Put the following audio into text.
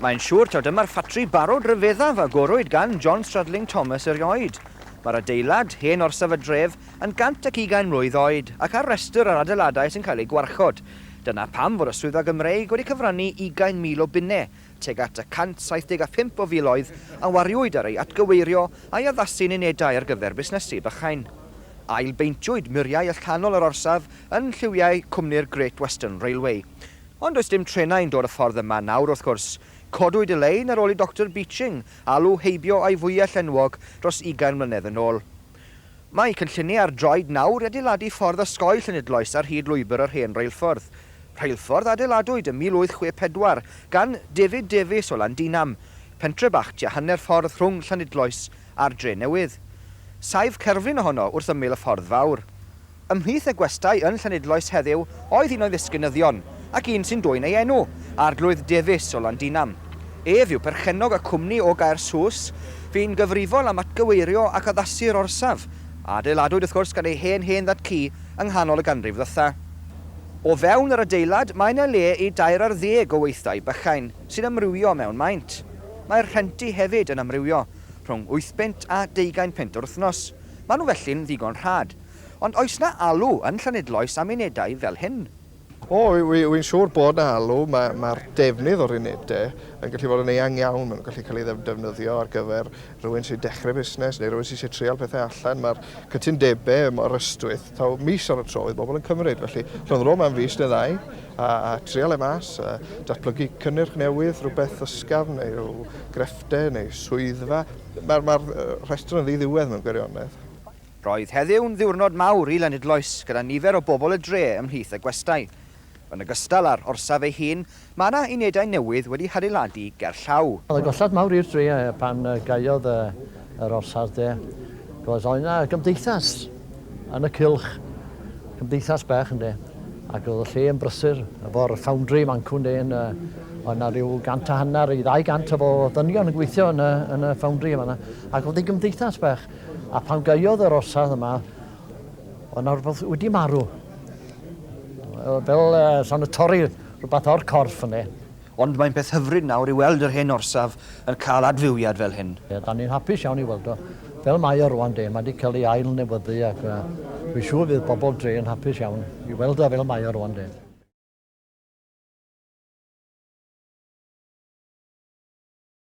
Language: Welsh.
Mae'n siŵr taw dyma'r ffatri barod ryfeddaf a gorwyd gan John Stradling Thomas erioed. Mae'r adeilad, hen orsaf y dref, yn 120 mlwydd oed ac ar restr yr adeiladau sy'n cael eu gwarchod. Dyna pam fod y Swyddfa Gymreig wedi cyfrannu ugain mil o bunnau Tuag at y 175 o filoedd a wariwyd ar ei atgyweirio a'i addasu'n unedau ar gyfer busnesu bychain. Ail-beintiwyd muriau allanol yr orsaf yn lliwiau cwmni'r Great Western Railway. Ond does dim trenau'n dod y ffordd yma nawr wrth gwrs. Codwyd y lein ar ôl i Doctor Beeching alw heibio a'i fwyell enwog dros ugain mlynedd yn ôl. Mae cynlluniau ar droed nawr i adeiladu ffordd osgoi Llanidloes ar hyd lwybr yr hen reilffordd. Rheilffordd a adeiladwyd ym 1864 gan David Davies o Landinam, pentre bach tua hanner ffordd rhwng Llanidloes a'r Drenewydd. Saif cerflun ohono wrth ymyl y ffordd fawr. Ymhlith y gwestai yn Llanidloes heddiw oedd un o'i ddisgynyddion, ac un sy'n dwyn ei enw, Arglwydd Davies o Landinam. Ef yw perchennog y cwmni o Gaersws, fu'n gyfrifol am atgyweirio ac addasu'r orsaf, a adeiladwyd wrth gwrs gan ei hen hen ddad-cu yng nghanol y ganrif ddotha. O fewn yr adeilad mae 'na le i dair ar ddeg o weithdai bychain sy'n amrywio mewn maint. Mae'r rhenti hefyd yn amrywio, rhwng wythpunt a deugain punt yr wythnos. Maen nhw felly'n ddigon rhad. Ond oes 'na alw yn Llanidloes am unedau fel hyn? O, wi'n siŵr bod 'na alw. Mae'r defnydd o'r unedau yn gallu bod yn eang iawn. Maen nhw'n gallu cael eu defnyddio ar gyfer rhywun sy'n dechrau busnes neu rhywun sy'n eisiau treial pethau allan. Mae'r cytundebau mor ystwyth, taw mis ar y tro oedd bobl yn cymryd. Felly, rhwng ddod am fis neu ddau a treial e mas, a datblygu cynnyrch newydd, rhywbeth ysgafn neu rhyw grefftau neu swyddfa, mae'r rhestr yn ddi-ddiwedd mewn gwirionedd. Roedd heddiw'n ddiwrnod mawr i Lenydloes gyda nifer o bobl y dre ymhlith y gwestai. Yn ogystal â'r orsaf ei hun, mae yna unedau newydd wedi hadeiladu gerllaw. Oedd yn gollad mawr i'r dre pan gaeodd yr orsaf de, achos oedd yna gymdeithas yn y cylch, cymdeithas bach ynde, ac oedd y lle yn brysur efo'r foundry mancwn de, oedd yna rhyw gant a hanner i ddau gant o ddynion yn gweithio yn y foundry yn fan'na, ac oedd hi'n gymdeithas bach. A pan gaeodd yr orsaf yma, oedd yna rhywbeth wedi marw. Fel uh, son y torri rhywbeth o'r corff yna. Ond mae'n peth hyfryd nawr i weld yr hen orsaf yn cael adfywiad fel hyn. Ie, da ni'n hapus iawn i weld o. Fel mae o rwan de, mae wedi cael ei ail newyddu ac uh, fi'n siŵr fydd bobl dre yn hapus iawn i weld o fel mae o rwan de.